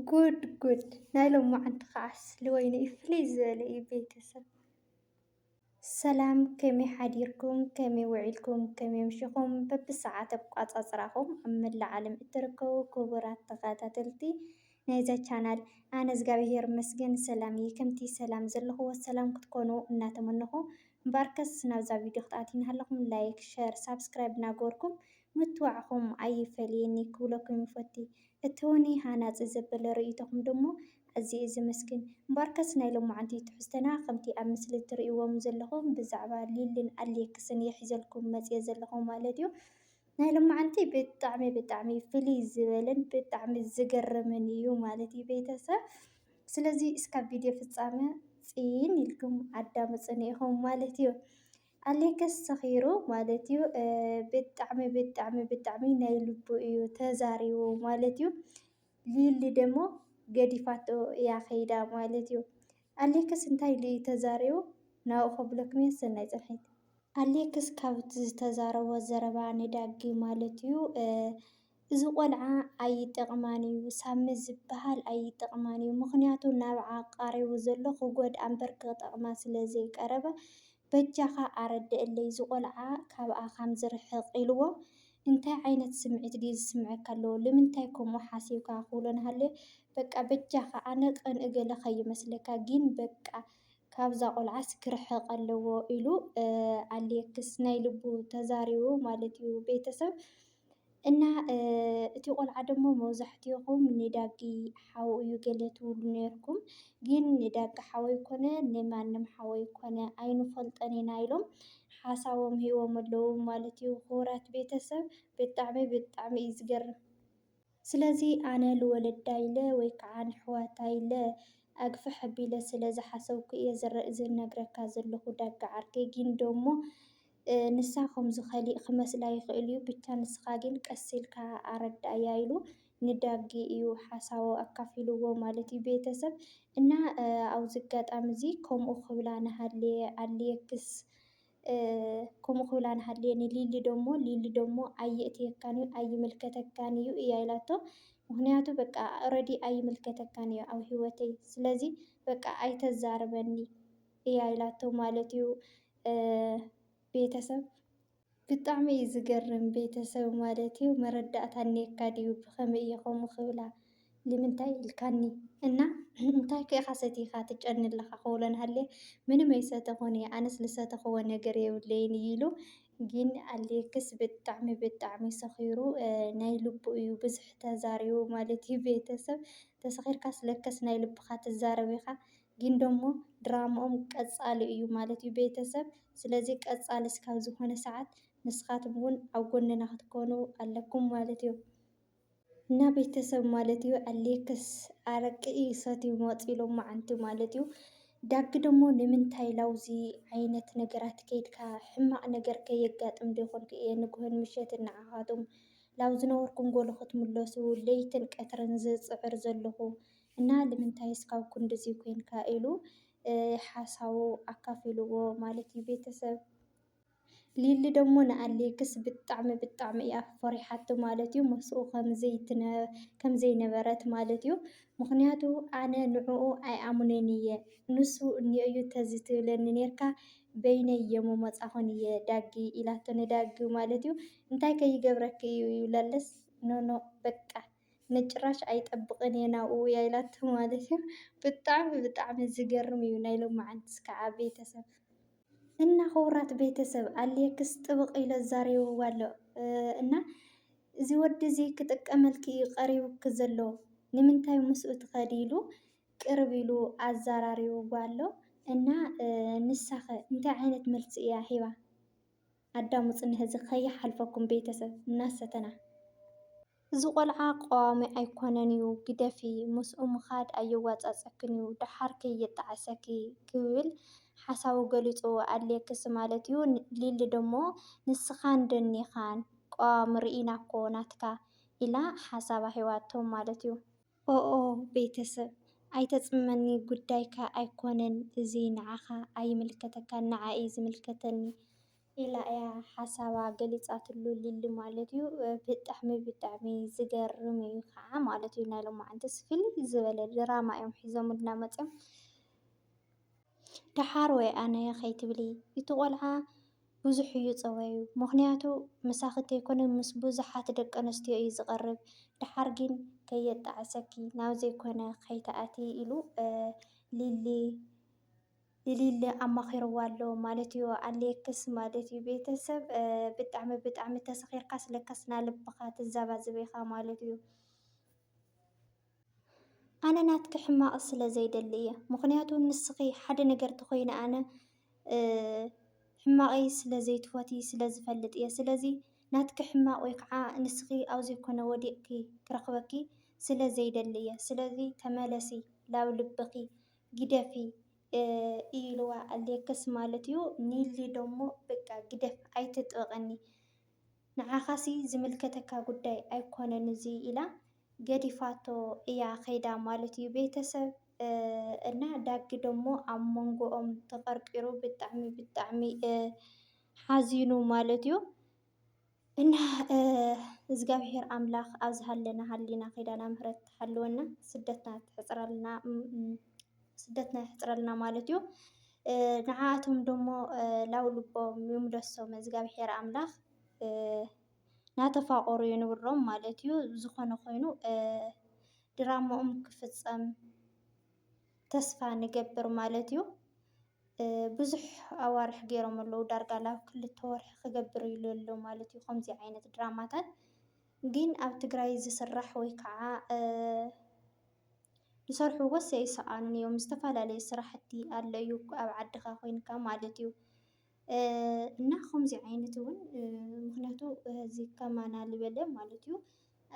ጉድ ጉድ ናይ ሎማዓንቲ ከዓስ ልወይኒ እዩ ፍልይ ዝበለ እዩ ቤተሰብ። ሰላም ከመይ ሓዲርኩም ከመይ ውዒልኩም ከመይ ኣምሲኹም በብሰዓት ኣቆፃፅራኹም ኣብ መላእ ዓለም እትርከቡ ክቡራት ተኸታተልቲ ናይዛ ቻናል ኣነ እግዚኣብሔር ይመስገን ሰላም እየ ከምቲ ሰላም ዘለኹዎ ሰላም ክትኮኑ እናተመነኹ እምበኣርከስ ናብዛ ቪድዮ ክትኣትዉ እናሃለኹም ላይክ ሸር ሳብስክራይብ እናገበርኩም ምትዋዕኹም ኣይፈለየኒ ክብለኩም ይፈቲ እተወኒ ሃናጺ ዘበለ ርእይቶኹም ደሞ ኣዝየ ዘመስግን እምበኣርከስ ናይ ሎማዓንቲ ትሕዝቶና ከምቲ ኣብ ምስሊ ትርእይዎም ዘለኹም ብዛዕባ ሊልን ኣሌክስን እየ ሒዘልኩም መጽየ ዘለኹ ማለት እዩ ናይ ሎማዓንቲ ብጣዕሚ ብጣዕሚ ፍልይ ዝበለን ብጣዕሚ ዝገርምን እዩ ማለት እዩ ቤተሰብ ስለዚ እስካብ ቪድዮ ፍጻመ ጽን ኢልኩም ኣዳምጹኒ ኢኹም ማለት እዩ። ኣሌክስ ሰኺሩ ማለት እዩ ብጣዕሚ ብጣዕሚ ብጣዕሚ ናይ ልቡ እዩ ተዛሪቡ ማለት እዩ። ሊሊ ደሞ ገዲፋቶ እያ ከይዳ ማለት እዩ። ኣሌክስ እንታይ ኢሉ እዩ ተዛሪቡ ናብኡ ከብለኩም እየ ሰናይ ፅንሒት። ኣሌክስ ካብቲ ዝተዛረቦ ዘረባ ንዳጊ ማለት እዩ እዚ ቆልዓ ኣይጠቅማን እዩ ሳሚ ዝብሃል ኣይጠቅማን እዩ ምክንያቱ ናብዓ ቃሪቡ ዘሎ ክጎድኣ እምበር ክጠቅማ ስለ ዘይቀረበ በጃካ ኣረደእለይ ዝቆልዓ ካብኣ ካም ዝርሕቅ ኢልዎ እንታይ ዓይነት ስምዒት ድዩ ዝስመዐካ ኣለዎ ልምንታይ ከምኡ ሓሲብካ ክብሎ ናሃለየ በቃ በጃካ ኣነ ቅን እገለ ከይመስለካ ጊን በቃ ካብዛ ቆልዓስ ክርሕቅ ኣለዎ ኢሉ ኣሌክስ ናይ ልቡ ተዛሪቡ ማለት እዩ ቤተሰብ። እና እቲ ቆልዓ ደሞ መብዛሕትኹም ንዳጊ ሓው እዩ ገለ ትብሉ ነርኩም ግን ንዳጊ ሓው ኣይኮነ ንማንም ሓው ኣይኮነ ኣይንፈልጦን ኢና ኢሎም ሓሳቦም ሂቦም ኣለዉ ማለት እዩ። ክቡራት ቤተሰብ ብጣዕሚ ብጣዕሚ እዩ ዝገርም። ስለዚ ኣነ ልወለዳ ኢለ ወይ ከዓ ንሕዋታ ኢለ ኣግፍሕ ኣቢለ ስለ ዝሓሰብኩ እየ ዝነግረካ ዘለኹ ዳጋ ዓርከይ ጊን ደሞ ንሳ ከምዚ ከሊእ ክመስላ ይኽእል እዩ ብቻ ንስኻ ጊን ቀስ ኢልካ ኣረዳእያ ኢሉ ንዳጊ እዩ ሓሳቦ ኣካፊልዎ ማለት እዩ ቤተሰብ እና ኣብዚ ኣጋጣሚ እዚ ከምኡ ክብላ ንሃሌ ኣልየክስ ከምኡ ክብላ ንሃልየ ንሊሊ ደሞ ሊሊ ደሞ ኣይእትየካን እዩ ኣይምልከተካን እዩ እያ ኢላቶ ምክንያቱ በቃ ኦረዲ ኣይምልከተካን እዩ ኣብ ሂወተይ ስለዚ በቃ ኣይተዛርበኒ እያ ኢላቶ ማለት እዩ ቤተሰብ ብጣዕሚ እዩ ዝገርም ቤተሰብ ማለት እዩ መረዳእታ እኒኤካ ድዩ ብከመይ እየ ከምኡ ክብላ ልምንታይ ኢልካኒ እና እንታይከ ኢኻ ሰቲኻ ትጨኒ ኣለኻ ክብሎ እናሃለየ ምንም ኣይሰተኹን እየ ኣነስ ዝሰተኹዎ ነገር የብለይን እዩ ኢሉ ግን ኣሌክስ ብጣዕሚ ብጣዕሚ ሰኺሩ ናይ ልቡ እዩ ብዙሕ ተዛሪቡ ማለት እዩ ቤተሰብ ተሰኺርካስ ለከስ ናይ ልብኻ ትዛረብ ኢኻ ግን ደሞ ድራምኦም ቀፃሊ እዩ ማለት እዩ ቤተሰብ ስለዚ ቀፃሊ እስካብ ዝኾነ ሰዓት ንስኻትኩም እውን ኣብ ጎንና ክትኮኑ ኣለኩም ማለት እዩ። እና ቤተሰብ ማለት እዩ። ኣሌክስ ኣረቂ ይሰትዩ መፅ ኢሎም መዓንቲ ማለት እዩ። ዳጊ ደግሞ ንምንታይ ላውዚ ዓይነት ነገራት ከይድካ ሕማቕ ነገር ከየጋጥም ዶ ይኾን እየ ንግሆን ምሸትን ንዓኻትኩም ላብ ዝነበርኩም ጎሎ ክትምለሱ ለይትን ቀትርን ዝፅዕር ዘለኹ እና ንምንታይ እስካብ ክንድዚ ኮይንካ ኢሉ ሓሳቡ ኣካፊልዎ ማለት እዩ ቤተሰብ ሊሊ ደሞ ንኣሌክስ ብጣዕሚ ብጣዕሚ እያ ፈሪሓቶ ማለት እዩ። ምስኡ ከምዘይነበረት ማለት እዩ። ምክንያቱ ኣነ ንዕኡ ኣይኣምኖን እየ ንሱ እኒኦ እዩ ተዝትብለኒ ነርካ በይነይ እየ ምመፃኩን እየ ዳጊ ኢላቶ ንዳጊ ማለት እዩ። እንታይ ከይገብረኪ እዩ ይብለለስ ኖኖ በቃ ንጭራሽ ኣይጠብቅን እየ ናብኡ እያ ኢላቶ ማለት እዩ። ብጣዕሚ ብጣዕሚ ዝገርም እዩ ናይ ሎማዓንቲ ክዓ ቤተሰብ። እና ክቡራት ቤተሰብ ኣሌክስ ጥብቕ ኢሎ ዛሪብዋ ኣሎ እና እዚ ወዲ እዚ ክጥቀመልኪ እዩ ቀሪቡኪ ዘሎ ንምንታይ ምስኡ ትኸዲ ኢሉ ቅርብ ኢሉ ኣዛራሪብዋ ኣሎ እና ንሳ ከ እንታይ ዓይነት መልሲ እያ ሂባ? ኣዳሙፅኒ ህዚ ከይሓልፈኩም ቤተሰብ እናሰተና። እዚ ቆልዓ ቀዋሚ ኣይኮነን ዩ ግደፊ ምስኡ ምኻድ ኣየዋፃፀክን ዩ ዳሓር ከየጣዕሰኪ ክብል ሓሳቡ ገሊፁ ኣድልየክስ ማለት ዩ ሊሊ ደሞ ንስኻን ደኒኻን ቀዋሚ ሪኢና እኮ ናትካ ኢላ ሓሳባ ሂባቶ ማለት ዩ። ኦኦ ቤተሰብ ኣይተጽምመኒ ጉዳይካ ኣይኮነን እዚ ንዓኻ ኣይምልከተካን ንዓይ እዩ ዝምልከተኒ ኢላ እያ ሓሳባ ገሊጻትሉ ሊሊ ማለት እዩ ብጣዕሚ ብጣዕሚ ዝገርም እዩ ከዓ ማለት እዩ ናይ ሎማዓንትስ ፍልይ ዝበለ ድራማ እዮም ሒዞምልና መጽዮም ደሓር ወይ ኣነ ከይትብሊ እቲ ቆልዓ ብዙሕ እዩ ፀባዩ ምኽንያቱ ምሳኺ ተይኮነ ምስ ብዙሓት ደቂ ኣንስትዮ እዩ ዝቐርብ ደሓር ግን ከየጣዕሰኪ ናብ ዘይኮነ ከይትኣትዪ ኢሉ ሊሊ ንሊሊ ኣማኺርዋ ኣሎ ማለት እዩ ኣለየክስ ማለት እዩ ቤተሰብ ብጣዕሚ ብጣዕሚ ተሰኺርካስ ለካስ ናልብኻ ትዘባዝብ ኢኻ ማለት እዩ ኣነ ናትኪ ሕማቅ ስለ ዘይደሊ እየ ምክንያቱ ንስኪ ሓደ ነገር ተኮይነ ኣነ ሕማቀይ ስለ ዘይትፎትይ ስለ ዝፈልጥ እየ ስለዚ ናትኪ ሕማቅ ወይ ከዓ ንስኪ ኣብ ዘይኮነ ወዲቅኪ ክረክበኪ ስለ ዘይደሊ እየ ስለዚ ተመለሲ ናብ ልብኪ ግደፊ ኢልዋ ኣሌክስ ማለት እዩ ኒሊ ደሞ በቃ ግደፍ ኣይትጥበቀኒ። ንዓኻሲ ዝምልከተካ ጉዳይ ኣይኮነን እዙይ ኢላ ገዲፋቶ እያ ከይዳ ማለት እዩ ቤተሰብ እና ዳጊ ደሞ ኣብ መንጎኦም ተቀርቂሩ ብጣዕሚ ብጣዕሚ ሓዚኑ ማለት እዩ። እና እግዚኣብሔር ኣምላክ ኣብ ዝሃለና ሃሊና ኪዳና ምህረት ትሓልወና ስደትና ትሕፅረልና። ስደትና የሕፅረልና ማለት እዩ። ንዓኣቶም ደሞ ላው ልቦም ይምለሶም እዝጋቢሄር ኣምላክ ናተፋቀሩ የንብሮም ማለት እዩ። ዝኾነ ኾይኑ ድራሞኦም ክፍፀም ተስፋ ንገብር ማለት እዩ። ብዙሕ ኣዋርሕ ገይሮም ኣለዉ ዳርጋ ላብ ክልተ ወርሒ ክገብር ኢሉ ኣሎ ማለት እዩ። ከምዚ ዓይነት ድራማታት ግን ኣብ ትግራይ ዝስራሕ ወይ ከዓ ዝሰርሕዎስ ኣይሰኣኑን እዮም ዝተፈላለዩ ስራሕቲ ኣሎ እዩ ኣብ ዓድኻ ኮይንካ ማለት እዩ። እና ከምዚ ዓይነት እውን ምኽንያቱ እዚ ከማና ዝበለ ማለት እዩ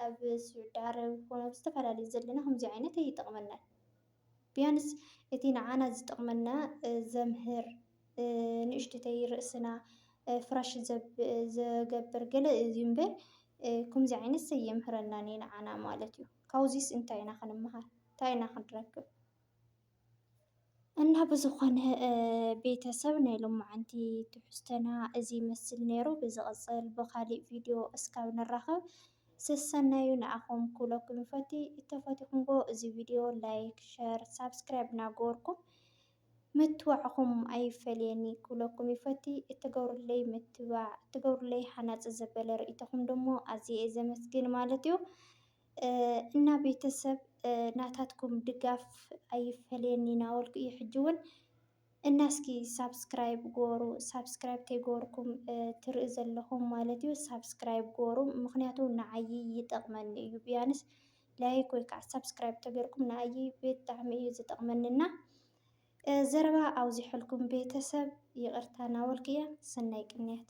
ኣብ ስዑዲ ዓረብ ኮነ ኣብ ዝተፈላለዩ ዘለና ከምዚ ዓይነት ኣይጠቕመናን። ቢያንስ እቲ ንዓና ዝጠቕመና ዘምህር፣ ንእሽተይ ርእስና ፍራሽ ዝገብር ገለ እዩ እምበር ከምዚ ዓይነትስ ኣየምህረናን እዩ ንዓና ማለት እዩ። ካብዚስ እንታይ ኢና ክንመሃር? እንታይ ኢና ክንረክብ? እና ብዝኾነ ቤተሰብ ናይ ሎማዓንቲ ትሕዝቶና እዚ ይመስል ነይሩ። ብዝቕፅል ብኻሊእ ቪድዮ እስካብ ንራኸብ ሰሰናዩ ንኣኹም ክብለኩም ይፈቲ። እንተፈቲኹምዎ እዚ ቪድዮ ላይክ፣ ሸር፣ ሳብስክራይብ እናገበርኩም ምትብባዕኹም ኣይፈለየኒ ክብለኩም ይፈቲ። እትገብሩለይ ምትብባዕ፣ እትገብሩለይ ሃናፂ ዘበለ ርእይቶኹም ደሞ ኣዝየ እየ ዘመስግን ማለት እዩ። እና ቤተሰብ ናታትኩም ድጋፍ ኣይፈለየኒ እናበልኩ እዩ ሕጂ እውን እና እስኪ ሳብስክራይብ ግበሩ ሳብስክራይብ ተይገበርኩም ትርኢ ዘለኹም ማለት እዩ ሳብስክራይብ ግበሩ ምኽንያቱ ንዓይ ይጠቕመኒ እዩ ብያንስ ላይክ ወይ ከዓ ሳብስክራይብ ተገርኩም ንኣይ ብጣዕሚ እዩ ዝጠቕመኒ እና ዘረባ ኣውዚሐልኩም ቤተሰብ ይቕርታ ናበልኩ እየ። ሰናይ ቅንያት